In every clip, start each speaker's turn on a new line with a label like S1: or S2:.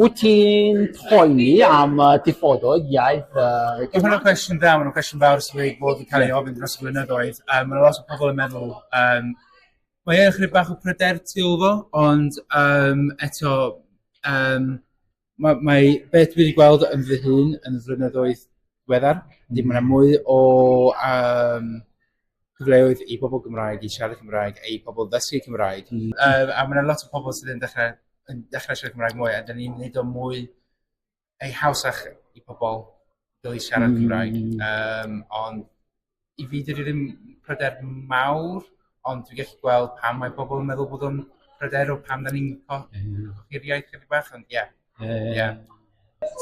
S1: Wyt ti'n poeni am y diffodoedd iaith yy Gymraeg? Mae hwnna'n cwestiwn
S2: da, mae'n cwestiwn fawr sydd wedi bod yn cael ei ofyn dros y blynyddoedd. Um, mae lot o pobl yn meddwl, um, mae e'n chydig bach o pryder tu ôl fo, ond um, eto, um, mae, mae beth dwi wedi gweld yn fy hun yn y flynyddoedd diweddar, ddim yna mwy o um, cyfleoedd i bobl Gymraeg i siarad Cymraeg a i pobl ddysgu Cymraeg. Mm. Uh, a mae yna lot o pobl sydd yn dechrau, yn dechrau siarad Cymraeg mwy, a dyn ni'n neud o mwy ei hawsach i pobl gael ei siarad mm. Cymraeg. Um, ond i fi, dydw i ddim pryder mawr, ond dwi'n gallu gweld pam mae pobl yn meddwl bod o'n pryder o pam da ni'n cochi'r iaith chydig bach, ond ie. Yeah. Ie.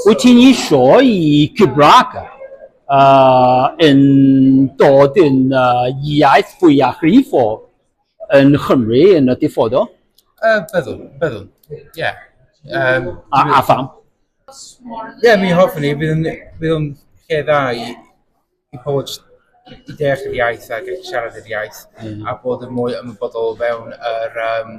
S1: Wyt ti'n eisiau i Gymraeg yy yn dod yn yy iaith fwyafrif o yn Nghymru yn y dyfodol? Yy byddwn,
S2: byddwn, ie. Yym... A
S1: a pham?
S2: Ie, mi hoffwn i, bydd yn bydd o'n lle dda i i pobl jyst i deall yr iaith a gallu siarad yr iaith... Mm. ...a bod yn mwy ymwybodol o fewn yr yym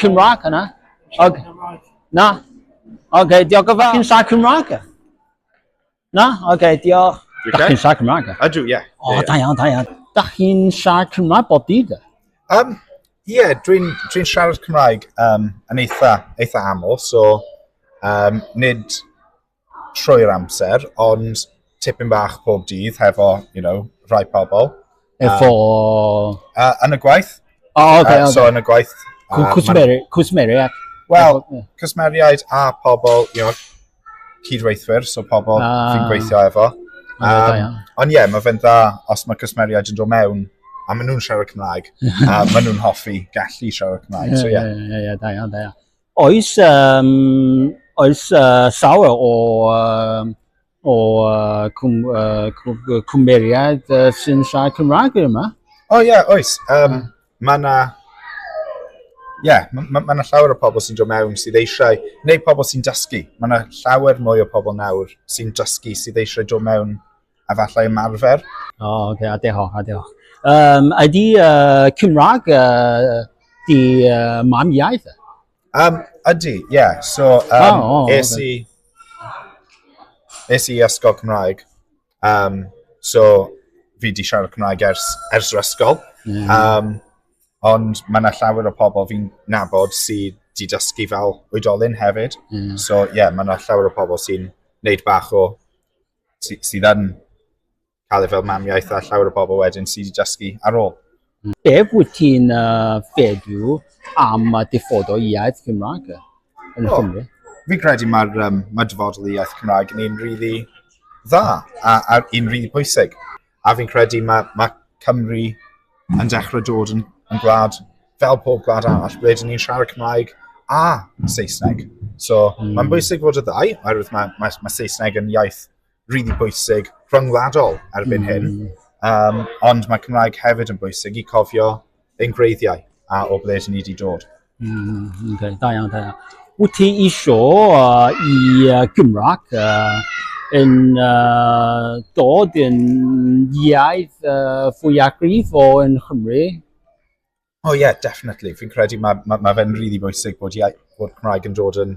S1: Cymraeg yna. Ag, na. Ok, diolch yn fawr. Chi'n sa Cymraeg? Na? Ok, diolch. Da chi'n sa Cymraeg? Ydw, ie. O, da
S3: iawn, da iawn.
S1: Da chi'n sa Cymraeg bod dydd? Um,
S4: ie, yeah, dwi'n dwi siarad Cymraeg um, yn eitha, eitha aml, so um, nid, trwy'r amser, ond tipyn bach pob dydd hefo, you know, rhai pobl. Efo...
S1: Uh,
S4: yn y gwaith. O, oh, okay, uh, okay. So yn
S1: y gwaith.
S4: Uh, Cwsmeri,
S1: cwsmeriaid. Wel,
S4: cwsmeriaid a pobl, you know, cydweithwyr, so pobl ah. fi'n gweithio efo. Um, ond ie, yeah, mae fe'n dda os mae cwsmeriaid yn dod mewn a maen nhw'n siarad Cymraeg, a maen nhw'n hoffi gallu siarad Cymraeg. So, yeah. Ie, ie, ie, da iawn, da iawn.
S1: Oes, um, oes uh, llawer o, um, o uh, cwm, uh, cwmeriaid uh, sy'n siarad Cymraeg yma. O oh, ie, yeah, oes.
S4: Um, mae yna ie, yeah, mae ma, ma llawer o pobl sy'n dod mewn sydd eisiau, neu pobl sy'n dysgu. Mae yna llawer mwy o pobl nawr sy'n dysgu sydd eisiau dod mewn a falle ymarfer. O, oh, okay, a
S1: diolch, a diolch. Um, ydy uh, Cymraeg uh, di uh, mam iaith? Um, ydy,
S4: ie. Yeah. So, um, oh, oh, es i... Okay. Es i ysgol Cymraeg. Um, so, fi di siarad Cymraeg ers, ers yr ysgol. Mm. Um, ond mae yna llawer o pobl fi'n nabod sydd di dysgu fel oedolyn hefyd. Mm. So, ie, yeah, mae yna llawer o pobl sy'n neud bach o sy, sydd yn cael ei fel mam iaith a llawer o bobl wedyn sydd wedi dysgu ar ôl. Beth wyt
S1: ti'n uh, feddwl am y dyfodol iaith Cymraeg yn oh, Cymru? Fi credu mae'r
S4: um, mae dyfodol iaith Cymraeg yn un rili really dda a, a un rili really bwysig. A fi'n credu mae, mae Cymru yn dechrau dod yn, yn gwlad, fel pob gwlad arall, ble dyn ni'n siarad Cymraeg a Saesneg. So mm. mae'n hmm. bwysig fod y ddau, oherwydd mae, mae, mae Saesneg yn iaith rili really bwysig rhyngwladol erbyn mm. hyn. Um, ond mae Cymraeg hefyd yn bwysig i cofio engreiddiau a o ble ni wedi dod. Mm, okay.
S1: Da iawn, da iawn. Wyt ti isio uh, i uh, Gymraeg uh, yn uh, dod yn iaith uh, fwy agrif o yn Chymru?
S4: Oh yeah, definitely. Fi'n credu mae ma, ma fe'n rili really bwysig bod, iaith, bod Cymraeg yn dod yn